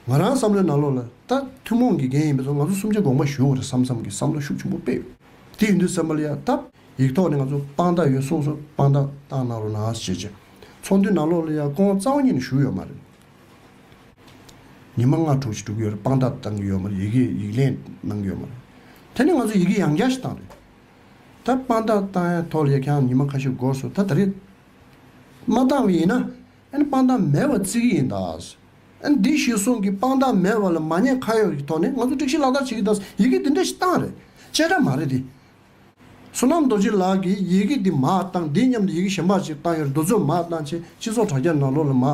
ང་རང་བསམ་བློའི་ནང་ལོག་ལ་ད་ཐུན་མོང་གི་འགན་ཡིན་པས་སོ་ང་ཚོ་གསུམ་ཆ་དགོངས་པ་ཞུ་བ་རེད་བསམ་བསམ་གི་བསམ་བློ་ཤུགས་ཆུང་པོ་སྤེལ། དེ་ཡིན་དུས་སེམས་པ་ལ་ཡ་ད་ཡིག་ཐོག་ནས་ང་ཚོ་དཔང་རྟགས་ཡོད་གསུངས་སོ་དཔང་རྟགས་བཏང་གནང་རོགས་ནའང་ཞེས་བརྗོད། ཚོགས་འདུའི་ནང་ལོག་ལ་ཡ་ཀུན་དབང་རྩ་བ་ཉིད་ནས་ཞུགས་ཡོད་མ་རེད། ཉི་མ་ལྔ་དྲུག་བཞི་དྲུག་ཡོད་རེད་དཔང་རྟགས་བཏང་གི་ཡོད་མ་རེད་ཡི་གེ་ཡིག་ལན་གནང་གི་ཡོད་མ་རེད། དེ་ནས་ང་ཚོ་ཡི་གེ་ཡང་བསྐྱར་ཞིག་བཏང་རེད། ད་དཔང་རྟགས་བཏང་ཡ་ཐོག་ལས་ཀྱང་ཉི་མ་ཁ་ཤས་འགོར་སོང་ད་ད་རེད། མ་བཏང་བའི་ཡིན་ན་ཨ་ནི་དཔང་རྟགས་མེད་བ་བརྩི་གི་ཡིན་ད། ཨ་ནི་འདི་ཞིག་གསུངས་ཀི་དཔང་རྟགས་མེད་བ་ལ་མ་ཉེས་ཁ་གཡོག་གི་ཐོག་ནས་ང་ཚོ་སྒྲིག་གཞི་ལག་བསྟར་བྱེད་ཀྱི་ད་ཡི་གེ་འདི་འདྲ་ཞིག་བཏང་རེད། བཅད་ཁྲ་མ་རེད་དེ། བསོད་ནམས་རྡོ་རྗེ་ལགས་ཀྱིས་ཡི་གེ་འདི་མ་བཏང་འདི་སྙམ་དུ་ཡི་གེ་གཞན་པར་ཅིག་བཏང་ཡོད་འདུག་ཚོད་མ་བཏང་ཆེད་སྤྱི་ཚོགས་དྲ་རྒྱ་ནང་ལོག་ལ་མ།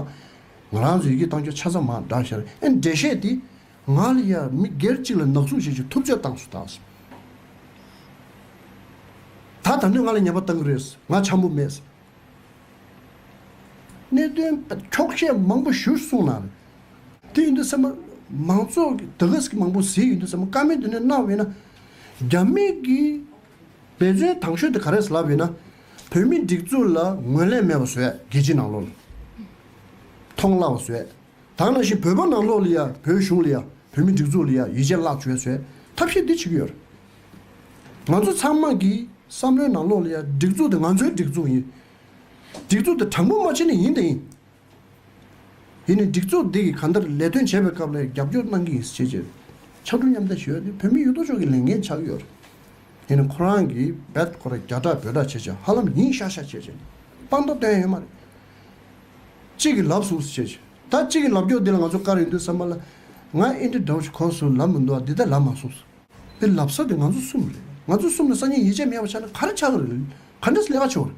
ང་རང་ཚོས་ཡི་གེ་བཏང་ཆོག་ཆ་ཚང་མ་བསྒྲགས་ཤར་རེད་ཨེ་འདྲེ་བཤད་དེ། ང་ལ་ཡར་མི་སྒེར་གཅིག་ལ་ནག་བཙུགས་བྱེད་ཆོག་ཐུབ་ཆ་བཏང་སུ་བཏང་སོང། ད་ད་ནོས་ང་ལ་ཉེས་པ་བཏང་གི་རེད་ང་ཆམ་པོ་མེད། གནད་དོན་འཁྱོག་བཤད་མང་པོ་ཞུ་གསུང་གནང་རེད། དེ་ཡིན་དུས་སེམས་པ། མང་ཚོགས་ཀྱི་དགའ་སྐྱིད་མང་པོ་ཟིག་ཡིན་དུས་སེམས་པ་དཀར་མིན་དུ་ནས་གནང་བས་ན། རྒྱ་མི་གིས་འབད་བརྩོན་དང་ཤོས་དེ་ག་རེད་ལབ་ཡོད་ན། བོད་མི་སྒྲིག་འཛུགས་ལ་ངོས་ལེན་མེད་པ་བཟོས་རྒྱལ་སྤྱི་ནང་ལོགས་ལ་མཐོང་སླ་བ་བཟོས། དང་ནང་བཞིན་བོད་པ་ནང་ལོགས་ལ་ཡང་བོད་གཞུང་ལ་ཡང་བོད་མི་སྒྲིག་འཛུགས་ལ་ཡང་ཡིད་ཆེས་བརླག་བྱོས་བཟོས་ཐབས་ཤེས་འདི་བྱེད་ཀྱི་ཡོད་རེད། ང་ཚོ་ཚང་མ་གིས་བསམ་བློའི་ནང་ལོགས་ལ་ཡང་སྒྲིག་འཛུགས་དེ་ང་ཚོའི་སྒྲིག་འཛུགས་ཡིན། སྒྲིག་འཛུགས་དེ་དྲང་པོ་མ་བྱས་ན་ཡིན་དང་ཡིན། དེ་ནི་སྒྲིག་འཛུགས་འདི་གིས་གང་ལྟར་ལས་དོན་བྱེད་པའི་སྐབས་ལས་རྒྱབ་སྐྱོར་གནང་གི་ཡིན་ཞེས་བརྗོད། ཕྱག་དྲུག་མཉམ་བསྡད་ཞུ་ཡ་ནི་བོད་མི་ཡོད་དོ་ཅོག་གི་ལས་འགན་ཆགས་ཀྱི་ཡོད་རེད། དེ་ནི་ཁོ་རང་གིས་འབད་ཁོ་ར་རྒྱ་བསྒྲགས་འབོད་བསྒྲགས་བྱེད་བྱེད་ཧ་ལམ་ཡིན་ཤག་ཤག་བྱེད་བྱེད་དཔང་རྟགས་བཏོན་ཡོད་མ་རེད། གཅིག་གིས་ལབ་ཟུག་བྱེད་བྱེད་ད་གཅིག་གིས་ལབ་སྐྱོ་འདི་ལ་ང་ཚོ་དཀའ་རེ་འདུག་བསམ་པ་ལ། ང་ཨིན་དྲི་འདྲ་བོ་ཞིག་གོ་སོང་ལབ་མི་འདུག་ཨ་འདི་ད་ལབ་མ་སོང། འདི་ལབ་ས་དེ་ང་ཚོ་གསུམ་རེད། ང་ཚོ་གསུམ་ལ་སང་ཉིན་ཡིད་ཆེས་མེད་པ་ཆགས་ན་ག་རེ་ཆགས་ཀྱི་རེད། ག་འདྲས་སུ་ལས་ཀ་བྱུང་རེད།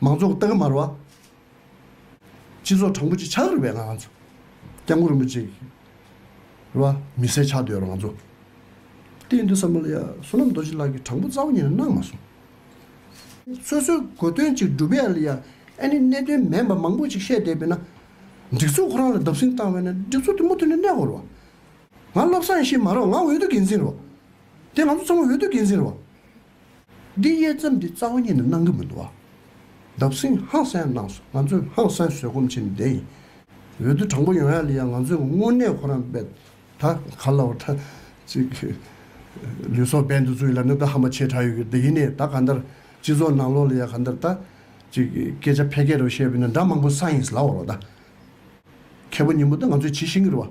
མང་ཚོགས་ཀྱི་སྟག་དམར་བ། སྤྱི་ཚོགས་དྲང་པོ་ཅིག་ཆགས་རིགས་པའི་ང་ཚོ། སྐྱབས་མགོན་རིན་པོ་ཆེ་གི་ར་མི་སེར་ཆགས་འདོད་ར་ང་ཚོ། གཏན་དུ་བསམ་བློ་ཡ་བསོད་ནམས་རྡོ་རྗེ་ལགས་ཀྱི་དྲང་པོ་རྩ་བ་ཉིད་ནས་གནང་མ་སོང། སོ་སོའི་གོ་དོན་ཅིག་སྒྲུབ་ཡ་ལ་ཡ་ཨེ་ནི་གནད་དོན་མེད་པ་མང་པོ་ཅིག་བཤད་བསྡད་པས་ན། སྒྲིག་འཛུགས་ཁོ་རང་ལ་བརྡབ་སྲིང་བཏང་བས་ན་སྒྲིག་འཛུགས་དེ་མུ་མཐུད་ནས་གནས་དགོས་རོགས། ང་བློ་བཟང་ཞིག་མ་རོགས་ང་འོས་བསྡུ་འགན་འཛིན་རོགས། དེ་ང་ཚོ་ཚང་མ་འོས་བསྡུ་འགན་འཛིན་རོགས། འདི་དབྱེ་མཚམས་འདི་རྩ་བ་ཉིད་ནས་གནང་གི་མི་འདུག་བ། འདབ་སྲིང་ཧང་སན་གནང་སོང་ང་ཚོས་ཧང་སན་བཟོད་སྒོམ་བྱེད་ནི་བསྡད་ཡིན། འོས་བསྡུ་དྲང་པོ་ཡོང་ཡག་ལི་ཡག་ང་ཚོས་དངོས་གནས་ཁོ་རང་དཔེ་ད་ག་ལ་བ་ད་ཅིག་ལུས་སྲོག་འབེན་དུ་བཙུགས་ཡིན་ལ་ནི་ད་ཧ་མ་ཆེ་དྲག་ཡོད་གི་འདི་ཡིན་ནས་ད་ག་འདར་སྤྱི་ཚོགས་ནང་ལོག་ལི་ཡག་ག་འདར་ད་ཅིག་སྐད་ཆ་ཕལ་སྐད་རོ་བཤད་པས་ནི་འདྲ་མང་པོ་ས་ཡིན་ལ་བ་རོ་ད། མཁས་པོ་ཉིན་མོ་ད་ང་ཚོས་ཇི་བཤད་གི་རོ་བ།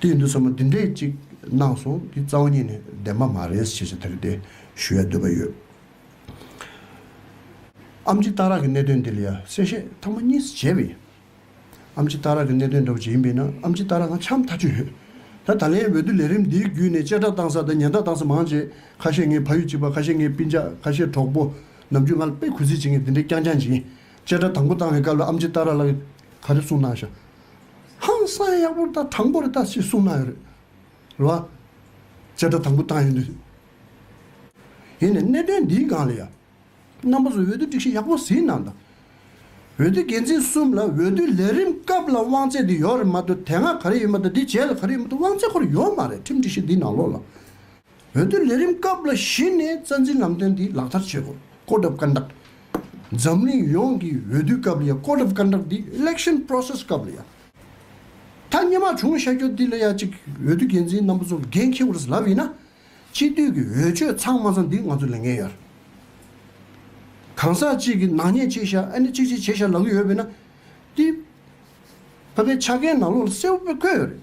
དེ་འདི་ཚོ་མོ་འདི་འདྲས་ཅིག་གནང་སོང་འདི་རྩ་བ་ཉིད་ནས་བདེན་པ་མ་རེད་ཞེས་ཞེ་ཐག་དེ་ཞུ་ཡ་འདོད་པ་ཡོད། ཨམ་རྗི་སྟག་རག་གི་གནད་དོན་འདི་ལ་ཡ་གསལ་བཤད་ཐང་མ་གཉིས་བྱས་པ་ཡིན། ཨམ་རྗི་སྟག་རག་གི་གནད་དོན་འདྲ་བོ་ཅིག་ཡིན་པས་ན་ཨམ་རྗི་སྟག་རག་ང་ཆམ་ཐག་ཆོད་ཡོད། ད་ད་ལའི་འོས་བསྡུ་ལས་རིམ་འདིའི་བརྒྱུད་ནས་གཅེས་སྐྲག་བཏང་ས་དང་ཉེན་བརྡ་བཏང་ས་མང་ཆེ་ཁ་ཤས་ངའི་ཕ་ཡུལ་གཅིག་པ་ཁ་ཤས་ངའི་སྤིན་ཆག་ཁ་ཤས་གྲོགས་པོ་ནམ་རྒྱུན་ང་ལ་དཔེ་གུས་བརྩི་བྱེད་མཁན་འདི་འདྲས་རྐྱང་རྐྱང་ཅིག་ཡིན། གཅེས་སྐྲག་དང་པོ་བཏང་བའི་སྐབས་ལ་ཨམ་རྗི་སྟག་རག་ལ་ག་རེ་གསུངས་གནང་ཞག། ཧང་སངས་ཡག་པོ་རེ་ད་དྲང་པོ་རེ་ད་ཞེས་གསུངས་གནང་ཡོད་རེད་རེད་བ། བྱེ་བྲག་དང་པོ་བཏང་ཡོད་འདུག་ཡིན་ནས་གནད་དོན་འདིའི་སྒང་ལ་ཡང་རྣམ་པ་ཚོས་འོས་བསྡུ་སྒྲིག་གཞི་ཡག་པོ་ཟིན་གནང་དང། འོས་བསྡུ་འགན་འཛིན་གསུམ་ལ་འོས་བསྡུའི་ལས་རིམ་སྐབས་ལ་དབང་ཚད་འདི་ཡོད་རེད་མ་གཏོགས་དེ་སྔ་ག་རེ་ཡོད་མ་གཏོགས་འདི་བྱས་ལ་ག་རེ་ཡོད་མ་གཏོགས་དབང་ཚད་ཁོ་རེ་ཡོད་མ་རེད་ཁྲིམས་སྒྲིག་གཞི་འདིའི་ནང་ལོགས་ལ། བོད་དོན་ལས་རིམ་སྐབས་ལ་གཞིགས་ནས་རྩ་འཛིན་ལམ་སྟོན་འདི་ལག་བསྟར་བྱེད་དགོས། བཀོད་སྒྲུབ་སྐར་འདག། འཛམ་གླིང་ཡོངས་ཀྱི་འོས་བསྡུའི་སྐབས་ལ་ཡང་བཀོད་སྒྲུབ་སྐར་འདག་འདི Election Process སྐབས་ལ་ཡང། ཐ་སྙད་མ་བྱུང་བཤད་རྒྱུ་འདི་ལ་ཡང་གཅིག་འོས་བསྡུ་འགན་འཛིན་རྣམ་པ་ཚོ་འགན་འཁྱེར་དགོས་རེད་ལབ་ཡིན་ན། སྤྱི་འཐུས་ཀྱི་འོས་ཆོས་ཚང་མ་ཚོ་འདི་ང་ཚོ་ལས་འགན་ཡོད་རེད། གང་ཟག་གཅིག་གི་ནག་ཉེས་བྱས་ཤག་ཨ་ནི་གཅིག་གཅིག་བྱས་ཤག་ལབ་ཀྱི་ཡོད་པས་ན། འདི་ཕ་བོད་ཆ་རྐྱེན་ནང་ལོགས་ལ་གསལ་བོ་བཀོད་ཡོད་རེད།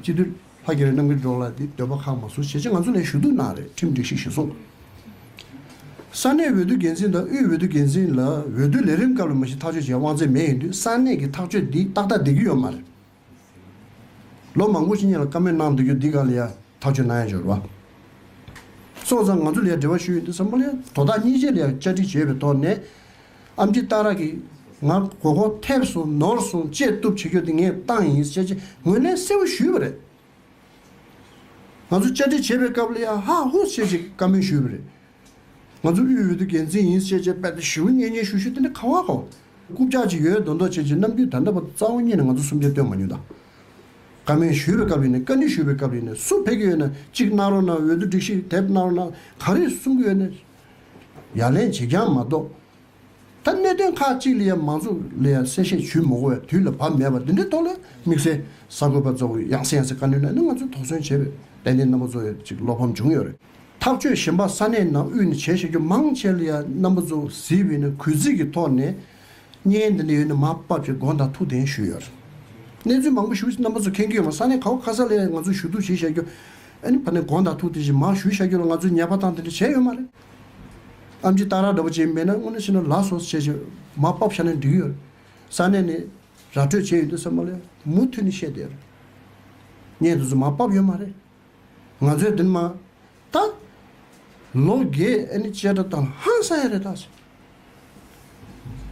སྤྱི་འཐུས་ཕ་སྐྱེ་རེད་གནམ་གྱི་འབྲོག་ལ་འདི་འདོད་པ་ཁག་མ་བཟོ་བྱས་རྗེས་ང་ཚོ་ལས་ཞུ་གཏུག་གནང་རེད་ཁྲིམས་སྒྲིག་ཞིག་ཞུ་གསུང། ས་གནས་འོས་བསྡུ་འགན་འཛིན་དང་དབུས་འོས་བསྡུ་འགན་འཛིན་ལ་འོས་བསྡུ་ལས་རིམ་སྐབས་ལ་མ་གཞི་ཐག་གཅོད་བྱེད་དབང་ཚད་མེད་ཡིན་དུས་ས་གནས་ཀྱི་ཐག་གཅོད་འདི་ཏག་ཏག་བསྡད་ཀྱི་ཡོད་མ་རེད། ལོ་མང་པོ་ཕྱི་ཉིན་ལ་བཀའ་མོལ་གནང་འདུག་རྒྱུ་འདི་ག་ལ་ཡ་ཐག་གཅོད་གནང་ཡ་འབྱོར་བ། སོང་ཙང་ང་ཚོ་ལ་ཡ་འབྲེལ་བ་ཞུ་ཡོད་འདུག་བསམ་བློ་ཡ་དོ་བདག་གཉིས་ཅན་ལ་ཡ་བཅའ་སྒྲིག་བྱས་པའི་ཐོག་ནས། ཨ་མྲི་རྟ་ར་གིས་ང་མགོ་སྐོར་ཐེབས་སོང་ནོར་སོང་བཅད་གཏུབ་བྱེད་རྒྱུ་དེ་ངས་བཏང་ཡིན་ཞེས་ཅེས་ངོས་ལེན་གསལ་བོ་ཞུས་པ་རེད། ང་ཚོ་བཅར་འདྲི་བྱེད་པའི་སྐབས་ལ་ཡ་ཧ་ཧུ་ཞེས་ཅེས་བཀའ་མོལ་ཞུས་པ་རེད། ང་ཚོ་དབུས་འོས་བསྡུ་འགན་འཛིན་ཡིན་ཞེས་ཅེས་དཔལ་ལྡན་ཞི་བོས་སྙན་སྙན་ཞུ་ཞུ་དེ་འདྲ་ག་བ་གོ། རྐུབ་བཀྱག་ཅིག་ཡོད་མདོག་མདོག་བྱེད་ཅིག་ནམ་རྒྱུན་ད་ལྟ་བར་རྩ་བ་ཉིད་ནས་ང་ཚོ་སུམ་ཆ་བཏོན་མ་མྱོང་ད། བཀའ་མོལ་ཞུས་པའི་སྐབས་རེ་ནས་བཀའ་འདྲི་ཞུས་པའི་སྐབས་རེ་ནས་སུ་ཕེབས་ཀྱི་ཡོད་ན་གཅིག་གནང་རོགས་གནང་འོས་བསྡུ་སྒྲིག་གཞི་དེབ་གནང་རོགས་གནང་ག་རེ་གསུང་གི་ཡོད་ན། ཡ་ལན་བྱེད་རྐྱང་མ་གཏོགས། ད་གནད་དོན་ཁག་ཅིག་ལ་ཡང་མང་ཚོགས་ལ་ཡང་གསལ་བཤད་ཞུས་མ་གོ་བས་དུས་ལ་བབ་མེད་པ་འདི་འདྲའི་ཐོག་ལ་དམིགས་བསལ་གསར་འགོད་པ་གཙོ་བོས་ཡང་སེ་ཡང་སེ་བཀའ་འདྲི་གནང་ནས་ང་ཚོས་དོགས་ཟོན་བྱས་པའི་ཏན་ཏན་རྣམ་པ་གཙོ་བོ་ཅིག་བློ་ཕམ་བྱུང་ཡོད་རེད། ཐག་གཅོད་གཞན་པ་ས་གནས་ནང་དབུས་ནས་བྱས་བྱ་རྒྱུ་མང་ཆེ་ལ་ཡང་རྣམ་པ་གཙོ་བོ་གཟི་བྷི་ནི་གུས་བརྩི་གི་ཐོག་ནས་བརྙན་འདི་ལས་ཡོད་ན་མ་བབ་ཅེས་དགོངས་དང་ཐུགས་གདན་ཞུས་ཡོད། གནས་ཚུལ་མང་པོ་ཞུ་རྣམ་པ་ཚོ་མཁྱེན་གྱི་ཡོད་མ་ས་ནས་ཁའོ་ཁ་ས་ལའི་ང་ཚོ་ཞུ་གཏུག་བྱེད་བཞག་རྒྱུ། ཨ་ནི་བར་ནས་དགོངས་དང་ཐུགས་དེ་བཞིན་མ་ཞུ་བཞག་རྒྱུ་ལ་ང་ཚོས་ཉེས་པ་དང་དེ་འདྲ་བྱས་ཡོད་མ་རེད། ཨམ་ཅི་སྟག་ར་འདྲ་པོ་བྱེད་མེད་ན་སྔོན་ན་ཕྱི་ན་ལགས་སོ་བྱས་བྱས་མ་བབ་ཤར་ནས་འགྲིག་ཡོད། ས་གནས་ནས་ར་སྤྲོད་བྱས་ཡོད་འདུག་ས་མ་ལའི་མུ་མཐུད་ནས་བཤད་བསྡད་ཡོད། བརྙན་དེ་ཚོ་མ་བབ་ཡོད་མ་རེད། ང་ཚོས་འདི་མ་བལྟ། ལོ་རྒས་ཨེ་ནི་བཅད་ཁྲ་དང་ཧང་སང་ཡ་རེད་ད།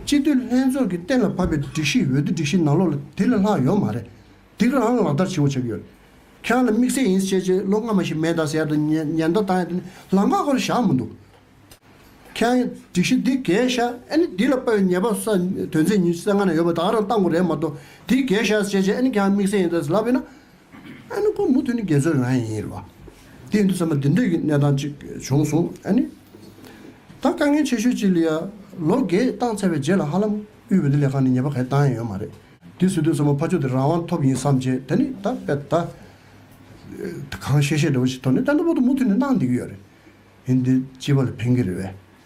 སྤྱི་འཐུས་ལྷན་ཚོགས་ཀྱི་གཏན་ལ་ཕབ་པའི་སྒྲིག་གཞི་འོས་བསྡུ་སྒྲིག་གཞི་ནང་ལོག་ལ་དེ་ལས་ལྷག་ཡོད་མ་རེད། དེ་ག་རང་ལག་བསྟར་བྱེད་འོ་བྱེད་ཀྱི་ཡོད་རེད། ཁྱེད་རང་ལ་དམིགས་བསལ་ཡིན་ཟེར་བྱས་རྗེས་ལོ་སྔ་མ་ཞིག་མེད་ད་ཟེར་དང་ཉེན་བརྡ་བཏང་ཡ་དེ་ནི་ལམ་ཁ་ཁོ་ལ་བཞག་མི་འདུག། ཁྱེད་རང་སྒྲིག་གཞི་འདི་གས་བཞག་ཨེ་ནི་དེ་ལ་དཔའ་བའི་ཉེས་པ་ས་དོན་ཚན་ཉི་ཤུ་རྩ་ལྔ་ནང་ཡོད་པ་ད་ག་རང་བཏང་དགོས་རེད་མ་གཏོགས་དེ་གས་བཞག་ཟེར་བྱས་ཨེ་ནི་ཁྱེད་རང་དམིགས་བསལ་ཡིན་ད་ཟེར་ལབ་ཡོད་ན། ཨ་ནི་ཁོ་མུ་མཐུད་ནས་རྒྱལ་མཚོའི་རང་ཡིན་ལ། དེ་འདི་ཚང་མ་འདི་འདྲ་ཡི་གནས་སྟངས་ཅིག་བྱུང་སོང་ཨ་ནི། ད་དཀའ་ངལ་ཆེ་ཤོས་ཅིག་ལ་ཡ། ལོ་འགའི་བཏང་ཚར་བའི་རྗེས་ལ་ཧ་ལམ་དབུས་བོད་ལས་ཁང་ནས་ཉེས་པ་ག་རེ་བཏང་ཡ་ཡོད་མ་རེད། དེ་སྲིད་དུ་ཚང་མ་ཕ་ཆོས་དེ་རང་དབང་ཐོབ་ཡིན་བསམ་རྗེས་ད་ནི་ད་དཔེ་ད། གང་བཤད་བཤད་འདྲ་བོ་ཞིག་ཐོག་ནས་ཏན་ཏན་པོ་ཏོ་མུ་མཐུད་ནས་གནང་བསྡད་ཀྱི་ཡོད་རེད། ཡིན་འདི་སྤྱི་པ་ལ་ཕན་གྱི་རེད་བས།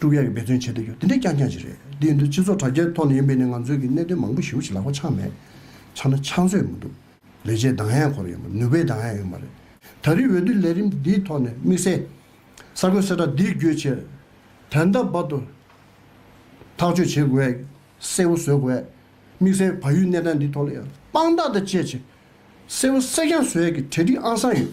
ཀྲུང་དབྱང་གིས་འབད་བརྩོན་བྱེད་དུ་ཡོད་དེ་འདྲས་རྐྱང་རྐྱང་ཞིག་རེད་དེ་ཡིན་དུས་སྤྱི་ཚོགས་དྲ་རྒྱའི་ཐོག་ནས་ཡིན་པས་ནི་ང་ཚོས་ཀྱི་གནད་དོན་མང་པོ་ཞིབ་ཞིག་ལག་པ་འཆང་མེད་ཆ་ན་འཆང་སྲོལ་ཡང་མི་འདུག་ལས་བྱའི་གདངས་ཡང་འཁོར་ཡོད་མ་རེད་ནུས་པའི་གདངས་ཡང་ཡོད་མ་རེད། ད་རེས་འོས་བསྡུ་ལས་རིམ་འདིའི་ཐོག་ནས་དམིགས་བསལ་གསར་འགོད་གསལ་བསྒྲགས་འདིའི་བརྒྱུད་ཆེས་དོན་དམ་བར་དུ་ཐག་གཅོད་བྱེད་དགོས་གསལ་བོ་བཟོས་དགོས། དམིགས་བསལ་བལ་ཡུལ་གནས་སྟངས་འདིའི་ཐོག་ལ་ཡང་དཔང་རྟགས་དང་བཅས་ཆེས་གསལ་བོ་གསལ་རྐྱང་བཟོས་ཀྱི་གྲལ་སྒྲིག་ཨང་གསང་ཡོད།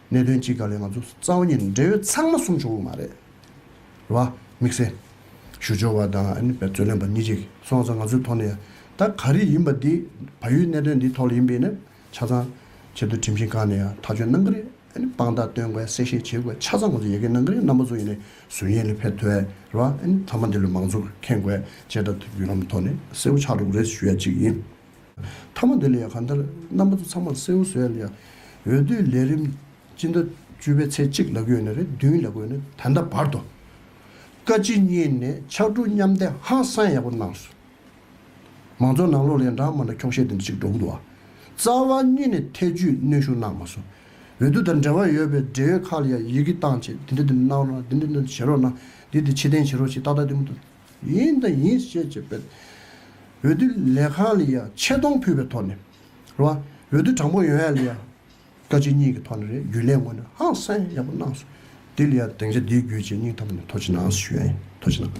གནད་དོན་གཅིག་ག་ལས་ང་ཚོ་རྩ་བ་ཉིད་འབྲེལ་ཡོད་ཚང་མ་གསུམ་བྱུང་བ་མ་རེད་བ། དམིགས་བསལ་ཞུ་སྦྱོར་བ་དང་ཨ་ནི་འབད་རྩོལ་ལེན་པ་གཉིས་ཅིག་སོང་ཙང་ང་ཚོའི་ཐོག་ནས་ཡང་ད་ག་རེ་ཡིན་པ་འདི་བ་ཡུའི་གནད་དོན་འདིའི་ཐོག་ལ་ཡིན་པས་ནི་ཆ་ཚང་ཆེད་དུ་ཁྲིམས་ཞིང་ཁང་ནས་ཡང་ཐག་གཅོད་གནང་གི་རེད་ཨ་ནི་དཔང་རྟགས་སྟོན་དགོས་གསལ་བཤད་བྱེད་དགོས་ཆ་ཚང་ང་ཚོ་ཡལ་གས་གནང་གི་རེད་རྣམ་པ་ཚོ་ཡིན་ནས་ཟུར་ཡན་ལི་ཕེ་ཐོས་རེད་བ། ཨ་ནི་ཐ་མ་འདི་ལོའི་མང་གཙོ་ཁེངས་དགོས་བཅས་ད་ཐུག་བརྒྱུད་ལམ་ཐོག་ནས་གསལ་བོ་ཆགས་འགྲོ་གི་རེད་ཞུ་ཡ་གཅིག་ཡིན། མཐའ་མ་འདི་ལ་ཡང་གང་ལྟར་རྣམ་པ་ཚོ་ཚང་མར་གསལ་བོ་བཟོ་ཡ་ན་ཡང་འོས་བསྡུའི་ལས་རིམ་སྤྱི་ཟླ་བཅུ་པའི་ཚེས་གཅིག་ལ་བགོས་ནས་རེ་བདུན་ལ་བགོས་ནས་ད་ལྟ་བར་དུ་བཀའ་སྤྱི་གཉིས་ནས་ཕྱག་གྲུ་མཉམ་འདེགས་ཧ་སང་ཡག་པོ་གནང་སོང། མང་གཙོ་ནང་ལོག་ལས་འབྲང་མ་ན་འཁྱོག་བཤད་འདི་འདྲ་ཅིག་འགྲོ་གི་འདུག་ཨ། རྩ་བ་གཉིས་ནས་ཐེ་ཇུས་གནོན་ཤུགས་གནང་མ་སོང། འོས་བསྡུ་དང་འབྲེལ་བ་ཡོད་པའི་འབྲེལ་ཡོད་ཁག་ལ་ཡང་ཡི་གེ་བཏང་རྗེས་འདི་འདྲ་འདི་འདྲ་གནང་རོགས་དང་འདི་འདྲ་འདི་འདྲ་བྱེད་རོགས་གནང། འདི་འདི་བྱེད་བདེན་བྱེད་རོགས་ཞེས་ཏག་ཏག་ལྟད་མོ་བསྡུ། ཡིན་དང་ཡིན་བཤད་བྱས་པས། འོས་བསྡུ་ལས་ཁང་ལ་ཡང་ཆེ་མཐོང་ཕུལ་བའི་ཐོག་ནས། འོས་བསྡུ་དྲང་པོ་ཡོད་ཡ་ལ་ཡང། བཀའ་སྤྱི་གཉིས་ཀྱི་ཐོག་ནས་རེད་རྒྱུ་ལས་ངོས་ནས་ཧང་སངས་ཡག་པོ་གནང་སོང། དེ་ལ་ཡང་དེང་ཆ་འདིའི་རྒྱུ་བྱས་སྙིང་ཐབས་ནས་ཐོ་ཆེ་ནང་སོ་ཞུ་ཡ་ཡིན་ཐོ་ཆེ་ནང།